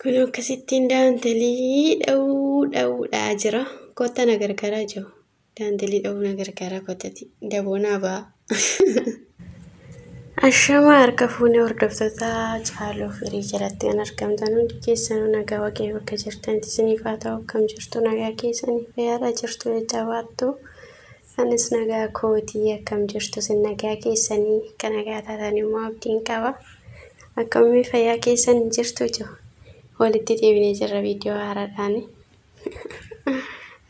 Kun akkasittiin daantelii dha'uu dha'uudhaa jira. Kotta na gargaaraa jiru. Daantelii dha'uu na gargaaraa kottati. Daboonaa ba'a. Ashama harka fuunee hordoftoota caaluu firii jalatti kan argamtan hundi keessanuu nagaa waaqayyo bakka jirtanitti isiniif haa ta'u akkam jirtu nagaa keessaniif yaada jirtu jajjabaattu. Anis nagaa kooti akkam jirtu sin nagaa keessanii akka nagaa taatan immoo abdiin qaba akkamii fayyaa keessan hin jirtu jo walitti deebinee jirra viidiyoo haaraadhaani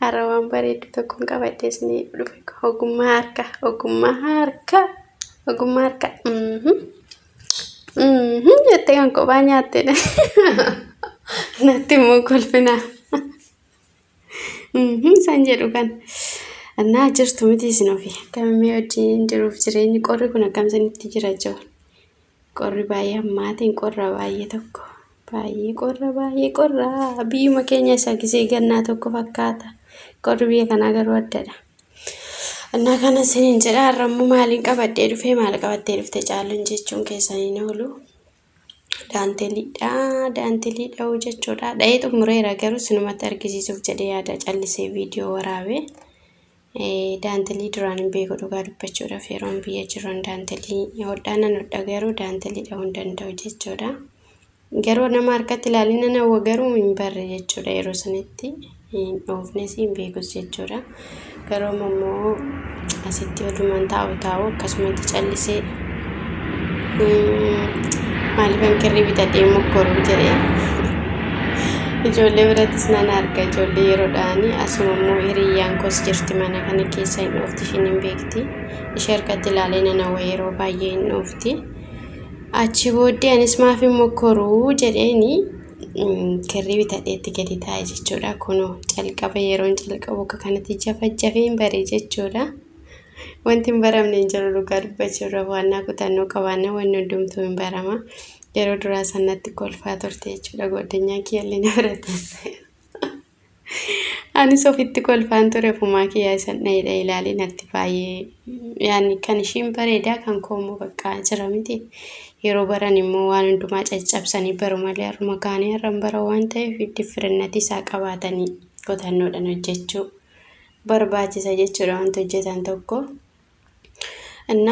har'a waan bareeddu tokkoon qabadhee isinii dhufe ogummaa harka ogummaa harka ogummaa harka mhm mhm jettee kan kophaa nyaattedha natti immoo kolfinaa Mhm, Isaan jedhu kan annaa jirtu miti isin ofi akkamimmee wajjin jiruuf jireenyi qorri kun akkam isinitti jira jiru qorri baay'ee hammaatiin qorra baay'ee tokko baay'ee qorra baay'ee qorra biyyuma keenya isa gisee gannaa tokko fakkaata qorri biyya kanaa garuu addadha annaa kana isiniin jedha har'ammoo maaliin qabadhee dhufee maal qabattee dhufte caaluun jechuun keessaniin oolu daantelidha daantelidha hoo jechuudha dha'ee xumureera garuu sinumatti argisiisuuf jedhee yaada callisee viidiyoo waraabe daantelii duraan hin beeku dhugaa dubbachuudhaaf yeroon biyya jiran daantelii hodhaanan hodha garuu daantelii dha'uu hin danda'u jechuudha garuu nama harkatti ilaalinana garuu hin barre jechuudha yeroo sanitti hin dhoofnes hin beekus jechuudha. Garuu amma immoo asitti odumaan taa'u taa'u akkasumatti callisee maaliifan kirrii bitadhee mokkoruu jedhee ijoollee birattis nan arga ijoollee yeroodhaani asuma immoo hiriyyaan koos jirti mana kana keessa hin dhoofti ishiin hin beekti ishee harkatti ilaalee nan hawwa yeroo baay'ee hin dhoofti. Achi booddee anis maaf hin mokkoruu jedheeni kirrii bitadhee itti gadi taa'e jechuudha. Kunoo calqaba yeroon calqabu akka kanatti jafajjafeen bare jechuudha. Wanti hin baramne hin jiru dhugaa dubbachuurra waannaa kutannoo qabaanna wanni hundumtuu hin barama. Yeroo duraa sanatti kolfaa turte jechuudha goddanyaa kiyyallee na bira teesse. Anis ofitti kolfaan ture ofumaa kiyyaa isan dhayidha ilaalee natti baay'ee yaani kan ishiin bareedaa kan koo immoo baqqaa jira miti yeroo baran immoo waan hundumaa caccabsanii baru malee har'uma kaanii har'an bara waan ta'eef diffirinnatii isaa qabaatanii qotannoodhaan hojjechuu barbaachisa jechuudha wanti hojjetan tokko. እና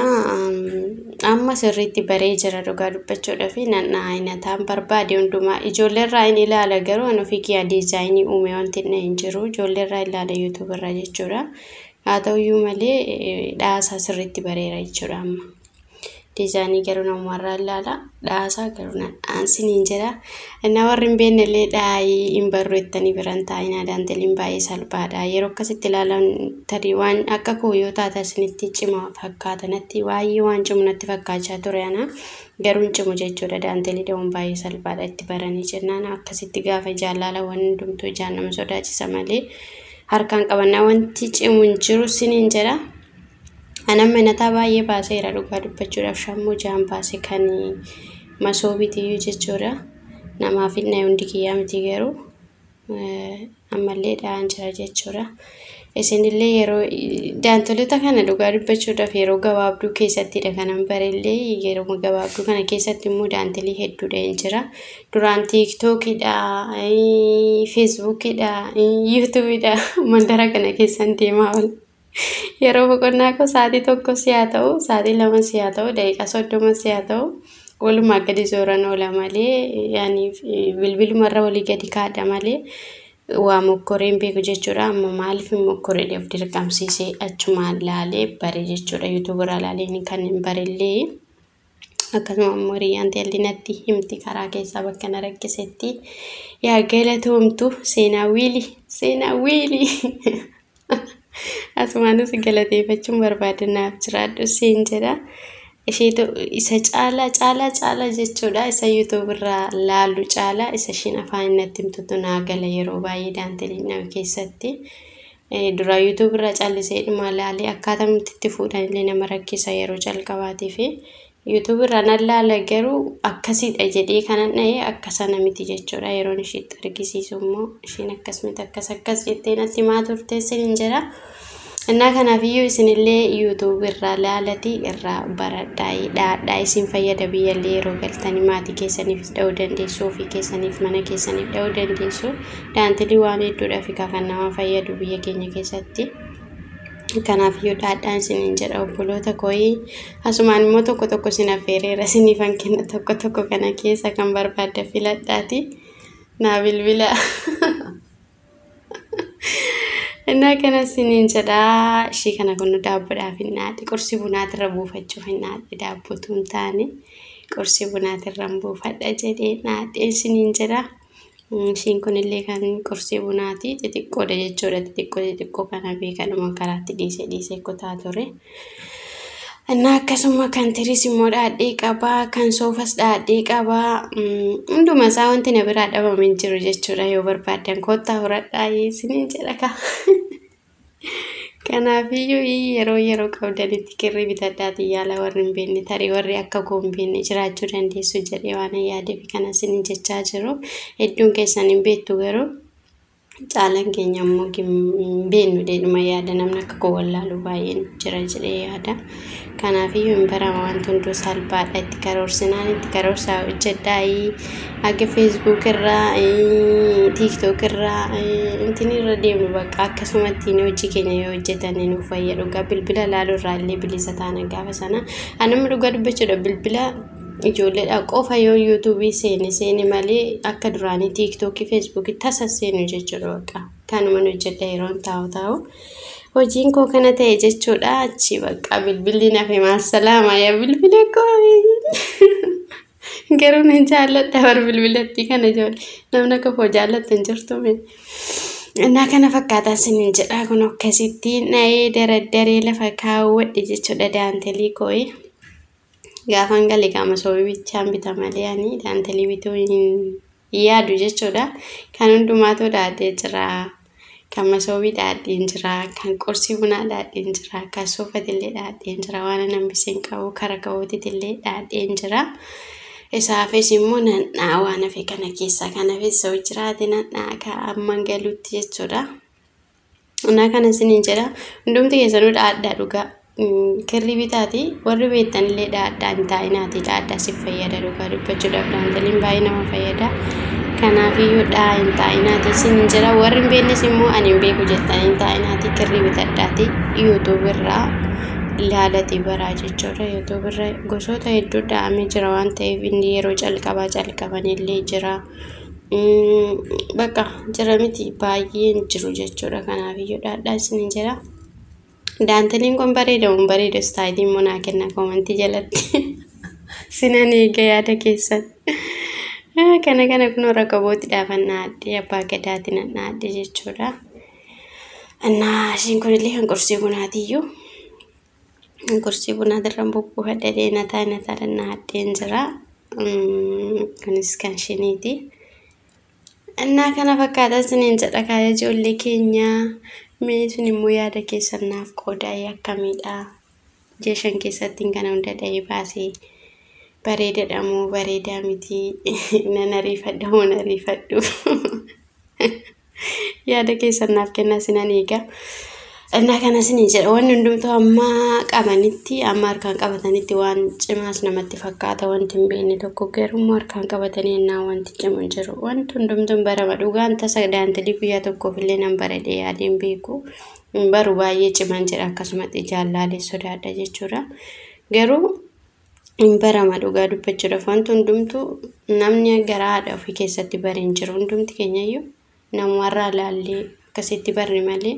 amma sirriitti baree jira dhugaa dubbachuudha fi nanna ayinataan barbaade hundumaa ijoolleerraa hin ilaala garuu an ofii kiyyaa diizaayinii uume wanti inni hin jiru ijoolleerraa ilaala yuutuubarraa jechuudha haa ta'uyyuu malee dhaasaa sirriitti bareera jechuudha amma Diizaanii garuu namuma irraa ilaala. Dhaasaa garuu na dhaansin hin jira. Innaa warri hin beekne illee dhaayii hin barru jettanii biran taa'inaa daanteliin baay'ee salphaadha. Yeroo akkasitti ilaalan tarii waan akka koo yoo taate isinitti cima fakkaata natti baay'ee waan cimu natti fakkaachaa ture ana. Garuu hin cimu jechuudha daantelii dha'uun baay'ee salphaadha itti baranii jennaan akkasitti gaafa ijaan laalawwan hundumtuu ijaan nama sodaachisa malee harkaan qabannaa wanti cimu hin jiru siniin jedha. Anan manataa baay'ee baaseera dhugaa dubbachuudhaaf shammuu ja'an baase kan masoobiitiyyuu jechuudha. Namaaf hin dhaye hundi kiyyaa miti garuu ammallee dha'aan jira jechuudha. Isinillee yeroo daantolota kana dhugaa dubbachuudhaaf yeroo gabaabduu keessattidha kanan barellee yeroo gabaabduu kana keessatti immoo daantelii hedduudha hin jira. Duraan tiiktookidha, feesbuukidha, yuutuubidha mandara kana keessan deemaa oola. Yeroo boqonnaa koo sa'aatii tokko si haa ta'u, sa'aatii lama si haa ta'u, daqiiqaa soddoma si haa ta'u, walumaa gadi zooran oola malee, yaani bilbiluma irra olii gadi kaadha malee waa mokkoree hin beeku jechuudha. Amma maaliif hin mokkore of dirqamsiisee achumaan laalee bare jechuudha. Yuutuubarraa laalee kan hin barellee. akkasuma ammoo hiriyyaan teelli natti himti karaa keessaa bakka na rakkisetti yaa galatoomtu seenaa wiili seenaa wiili asumaanis galateeffachuun barbaada naaf jiraadhu siin jedha isheetu isa caalaa caalaa caalaa jechuudha isa yuutuub irraa laalu caalaa isa ishiin afaan natti himtutu naa gala yeroo baay'ee daanteelii nama keessatti. Duraa YouTube irraa callisee dhumaa laalee akkaatamitti itti fuudhan illee nama rakkisa yeroo calqabaatii fi YouTube irraa nan laala garuu akkasiidha jedhee kanan dha'e akka sana miti jechuudha yeroon ishiitti argisiisu immoo ishiin akkas miti akkas akkas jettee natti himaa turte isin hin jira. Innaa kanaaf iyyuu isinillee YouTube irraa laalatii irraa baradhaa dhaadhaa isin fayyada biyyallee yeroo galtanii maatii keessaniifis dha'uu dandeessu ofii keessaniif mana keessaniif dha'uu dandeessu Dhaantilii waan hedduudhaaf egaa kan nama fayyadu biyya keenya keessatti. Kanaaf iyyuu dhaadhaan isiniin jedha obboloota kooyi. Asumaan immoo tokko tokko isin affeereera isiniifan kenna tokko tokko kana keessa kan barbaadda filadhaati. Naa bilbila. Innaa kana isiniin jedha ishii kana kun daabboodhaaf hin dhaadhe qursi bunaatirra buufachuuf hin dhaadhe daabbotuu hin taane qursi bunaatirra hin buufadha jedhee dhaadhe isiniin jedha. Ishiin kunillee kan qursii bunaati. Xixiqqoodha jechuudha. Xixiqqoo xixiqqoo kana beekadhuma karaatti dhiisee dhiisee kutaa ture. Innaa akkasuma kan tiris immoo dhaadhee qaba. Kan soofas dhaadhee qaba. Hunduma isaa wanti na biraa dhabame hin jiru jechuudha. Yoo barbaaddan koottaa horadhaa isiniin jedha kaa. Kanaafiyyuu i yeroo yeroo qabdanitti kirrii bitadhaatii yaala warri hin beekne tarii warri akka koo hin beekne jiraachuu dandeessu jedhee waan hin yaadeef kana isin jechaa jiru hedduun keessan hin beektu garuu caalan keenya immoo hin beeknu deedhuma yaada namni akka koo wallaalu baay'een jira jedhee yaada. Kanaafiyyuu hin barama wanti hunduu salphaadha itti karoorsinaan itti karoorsaa hojjedhaayi aga feesbuuk irraa tiiktook irraa intin irra deemnu bakka akkasumatti inni hojii keenya yoo hojjetanne nuuf fayya dhugaa bilbila laaluu irraa illee bilisa taana gaafa sana anamni dhugaa dubbachuudha bilbila ijoolleedha qofa yoo yuutuubii seene seene malee akka duraanii tiiktookii feesbuukii tasa seenu jechuudha baqa. kanuman hojjedha yeroon taa'u taa'u hojiin koo kana ta'e jechuudha achi bakka bilbilli nafe maasalaama yaa bilbila koo garuu nan jaalladha bar bilbilattii kana ijoollee namni akka koo jaallattu hin jirtu mee Innaa kana fakkaataa sinin jedhaa kun akkasitti na'ee daraddaree lafa kaawwadhe jechuudha daantelii koo'ee. Gaafan gale qaama sobii bichaan bita malee ani daantelii bituu hin yaadu jechuudha. Kan hundumaatuu dhaadhee jira. Kan masoobii dhaadheen jira. Kan qursii bunaa dhaadheen jira. Kan suufatillee dhaadheen jira. Waan hin hambisiin qabu kara ka'uutitillee dhaadheen jira. Isaafis immoo nadhaa waan hafe kana keessaa kan hafes yoo jiraate nadhaa kaa'amman galuutti jechuudha. Anaa kana isiniin jedha hundumti keessanuu dhaadhaa dhugaa kirrii bitaati warri beektan illee dhaadhaa hin taa'inaati dhaadhaa si fayyada dhugaa dubbachuudhaaf daantaliin baay'ee nama fayyada kanaafiyyuu dhaa hin taa'inaati isiniin jedha warri hin beeknes immoo ani hin beeku jettan hin taa'inaati kirrii bitadhaati yuutuub irraa ilaalati baraa jechuudha yuutuub irra gosoota hedduu dha'amee jira waan ta'eef inni yeroo calqabaa calqaban illee jira. Bakka jira miti baay'een jiru jechuudha kanaaf iyyuu dhaadhaa isin jira. Daanteliin kun bareeda hin bareeda istaayilii immoo naa kenna koomantii jalatti. Sinan eega yaada keessan. Kana kana kunoo rakabooti dhaafan naadhee abbaa gadaati nan naadhee jechuudha. Annaa ishiin kunillee kan qorsii kunaatiyyuu. Gorsii bunaa dirran bubbuu haddadee nataa nataa dannaa haddeen jira. Kunis kan shiniiti. Innaa kana fakkaataa isiniin jedha kaaya ijoollee keenyaa. Mee isin immoo yaada keessan naaf qoodaa akkamiidha? Ji'a shan keessatti kana hunda dhahee baasee bareedadha moo bareedaa miti? Nan ariifadha moo nan ariifadhu? yaada keessan naaf kennaa sinan eega. Innaa kana isinii jedha wanni hundumtuu amma qabanitti amma harkaan qabatanitti waan cimaas namatti fakkaata wanti hin beekne tokko garuu immoo harkaan qabatanii innaa wanti cimu hin jiru wanti hundumtuu hin barama dhugaan tasa daandilii guyyaa tokkoof illee nan barade yaadee hin beeku hin baru baay'ee ciman jedha akkasumatti jaallaalee sodaadha jechuudha garuu hin barama dhugaa dubbachuudhaaf wanti hundumtuu namni garaa haadha ofii keessatti bare hin jiru hundumti keenyayyuu namumarraa laallee akkasitti barre malee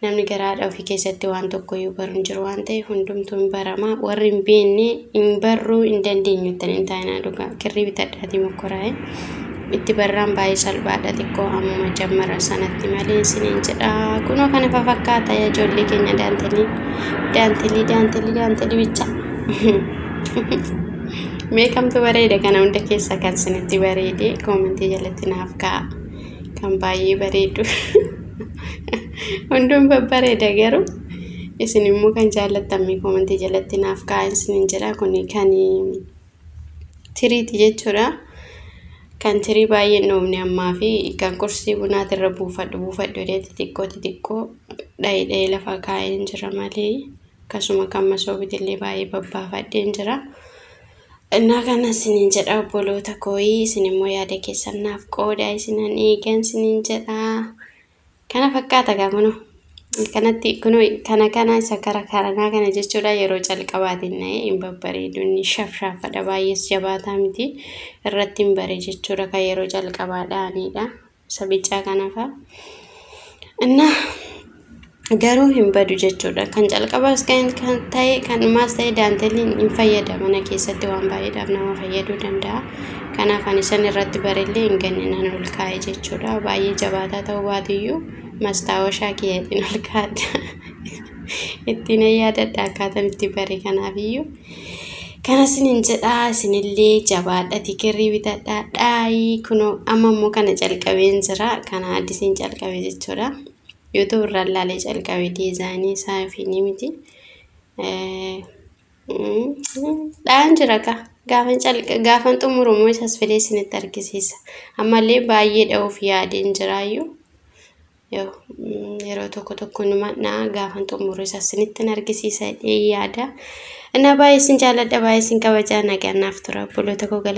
namni garaa haadha ofii keessatti waan tokkoyyuu baru hin jiru waan ta'eef hundumtuu hin barama warri hin beekne hin barruu hin dandeenyu ittiin hin taa'inaa dhugaa kirrii bitadhaatii mokkoraa'e Itti barraan baay'ee salphaadha xiqqoo ammuma jammara sanatti malee isiniin jedha kunoo kana fafakkaata yaa ijoollee keenya daantelii daantelii daantelii daantelii bicha meeqamtu bareeda kana hunda keessa kan isinitti bareede koomentii jalatti naaf ka'a kan baay'ee bareedu hunduun babbareeda garuu isin immoo kan jaallattammee koomentii jalatti naaf ka'a isiniin jedha kun kan tiriiti jechuudha. Kan tirii baay'ee hin dhoofne ammaa fi kan qursii bunaati irra buufadhu buufadhu jedhee xixiqqoo xixiqqoo dha'ee dha'ee lafa kaa'een jira malee akkasuma kan masoobiitti illee baay'ee babbaafadheen jira. Innaa kana isiniin jedha obboloota kooyii isin immoo yaada keessan naaf qoodaa isinan eegan isiniin jedha. Kana fakkaata gaa kunoo. Kanatti kunoo kana kana isa kara karanaa kana jechuudha yeroo calqabaatiin na'ee hin babbareedu inni shafshaafadha baay'ees jabaataa miti irratti hin bare jechuudha kan yeroo calqabaa dha'aniidha isa bicaa kanafa. Innaa garuu hin badu jechuudha. Kan calqabaas kan ta'e kan dhumaas ta'e daanteeliin hin fayyada mana keessatti waan baay'eedhaaf nama fayyaduu danda'a. Kanaaf ani san irratti barellee hin ganne nan ol kaa'e jechuudha. Baay'ee jabaataa ta'uu baatuyyuu mastaawashaa kiyyatiin ol kaa'adha. Ittiin yaadadha akkaataan itti bare kanaafiyyuu. Kana isinin jedha isinillee jabaadha tikirrii bitadha dhaayii kunoo amma immoo kana calqabeen jira kana addisiin calqabe jechuudha. YouTube irraa ilaalee calqabe diizaayinii isaa fi ni miti. Dha'aan jira kaa. Gaafan calqa gaafan xumuru immoo isas fidee isinitti argisiisa. Ammallee baay'ee dha'uuf yaadeen jiraayyuu. Yoo yeroo tokko tokko numa dha'a gaafan xumuru isas isinitti argisiisa jedhee yaada. Innaa baay'ee isin jaalladha baay'ee isin kabajaa nagaan naaf tura obboloota koo gala.